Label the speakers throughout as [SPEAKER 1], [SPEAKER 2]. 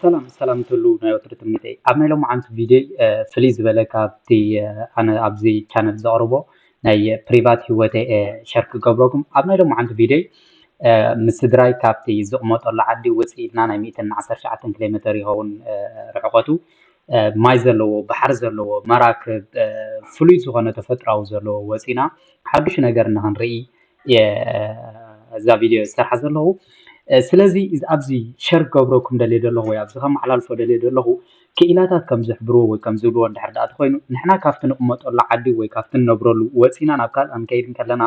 [SPEAKER 1] ሰላም ሰላም ትሉ ናይ ወትሪ ትምኒተይ ኣብ ናይ ሎማዓንቲ ቪድዮ ፍልይ ዝበለ ካብቲ ኣነ ኣብዚ ቻነል ዘቕርቦ ናይ ፕሪቫት ህይወተ ሸር ክገብረኩም ኣብ ናይ ሎማዓንቲ ቪድዮ ምስ ስድራይ ካብቲ ዝቕመጠሉ ዓዲ ውፅእ ኢልና ናይ 119 ኪሎ ሜተር ይኸውን ርሕቐቱ ማይ ዘለዎ ባሕሪ ዘለዎ መራክብ ፍሉይ ዝኾነ ተፈጥራዊ ዘለዎ ወፂና ሓዱሽ ነገር ንክንርኢ እዛ ቪድዮ ዝሰርሓ ዘለኹ ስለዚ ኣብዚ ሸር ክገብረኩም ደልየ ዘለኹ ወይ ኣብዚ ከመሓላልፎ ደልየ ዘለኹ ክኢላታት ከም ዝሕብርዎ ወይ ከም ዝብልዎ እንድሕር ዳኣ ተኮይኑ ንሕና ካብቲ ንቕመጠሉ ዓዲ ወይ ካብቲ ንነብረሉ ወፂና ናብ ካልእ ክንከይድ ከለና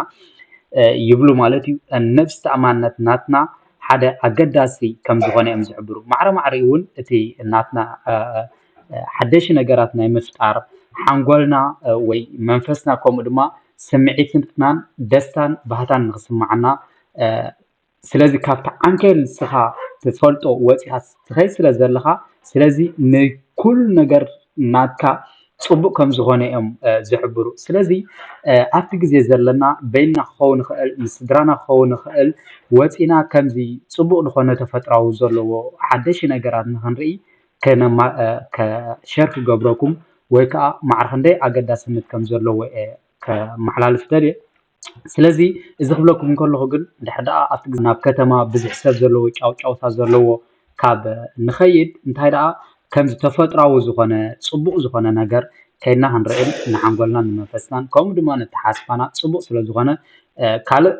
[SPEAKER 1] ይብሉ ማለት እዩ ነብሲ ተኣማንነት ናትና ሓደ ኣገዳሲ ከም ዝኾነ እዮም ዝሕብሩ ማዕረ ማዕረ እውን እቲ ናትና ሓደሽ ነገራት ናይ ምፍጣር ሓንጎልና ወይ መንፈስና ከምኡ ድማ ስምዒትናን ደስታን ባህታን ንክስማዓና ስለዚ ካብቲ ዓንኬል ንስኻ ትፈልጦ ወፂኻ ትኸይድ ስለ ዘለኻ ስለዚ ንኩሉ ነገር ናትካ ፅቡቅ ከም ዝኾነ እዮም ዝሕብሩ ስለዚ ኣብቲ ግዜ ዘለና በይንና ክኸውን ይኽእል ምስ ስድራና ክኸውን ይኽእል ወፂና ከምዚ ፅቡቅ ዝኾነ ተፈጥራዊ ዘለዎ ሓደሽ ነገራት ንክንርኢ ሸር ክገብረኩም ወይ ከዓ ማዕረ ክንደይ ኣገዳስነት ከም ዘለዎ እየ ከመሓላልፍ ደልየ ስለዚ እዚ ክብለኩም እንከለኹ ግን ድሕር ደኣ ኣብቲ ግዜ ናብ ከተማ ብዙሕ ሰብ ዘለዎ ጫውጫውታ ዘለዎ ካብ ንኸይድ እንታይ ደኣ ከምዚ ተፈጥራዊ ዝኾነ ፅቡቕ ዝኾነ ነገር ከይድና ክንርዕን ንሓንጎልናን ንመንፈስናን ከምኡ ድማ ነተሓስፋና ፅቡቕ ስለ ዝኾነ ካልእ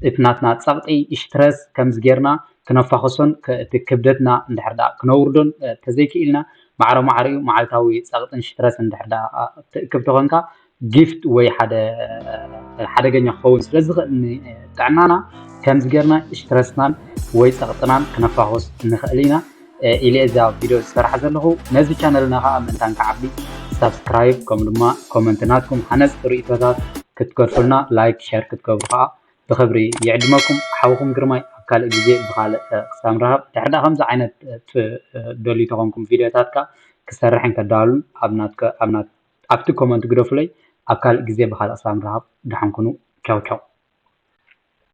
[SPEAKER 1] እቲ ናትና ጸቕጢ እሽትረስ ከምዚ ጌርና ክነፋኹሶን እቲ ክብደትና እንድሕር ደኣ ክነውርዶን ተዘይክኢልና ማዕረ ማዕሪኡ መዓልታዊ ጸቕጥን ሽትረስን እንድሕር ደኣ ትእክብ ተኾንካ ጊፍት ወይ ሓደ ሓደገኛ ክኸውን ስለ ዝኽእል ንጥዕናና ከምዚ ጌርና እሽትረስናን ወይ ጸቕጥናን ክነፋኹስ ንኽእል ኢና። ኢለ እየ እዛ ቪድዮ ዝሰርሓ ዘለኹ። ነዚ ቻነልና ከኣ ምእንታን ክዓቢ ሳብስክራይብ ከምኡ ድማ ኮመንት ናትኩም ሃነጽቲ ርእይቶታት ክትገድፉልና ላይክ ሸር ክትገብሩ ከኣ ብኽብሪ ይዕድመኩም። ሓውኹም ግርማይ ኣብ ካልእ ግዜ ብኻልእ ክሳብ ንራኸብ ድሕሪ ደኣ ከምዚ ዓይነት ትደልዩ ተኾንኩም ቪድዮታት ከኣ ክሰርሕን ከዳሉን ኣብ ናትከ ኣብ ናት ኣብቲ ኮመንት ግደፉለይ ኣብ ካልእ ግዜ ብኻልእ ክሳብ ንራኸብ ደሓን ኩኑ ቻው ቻው።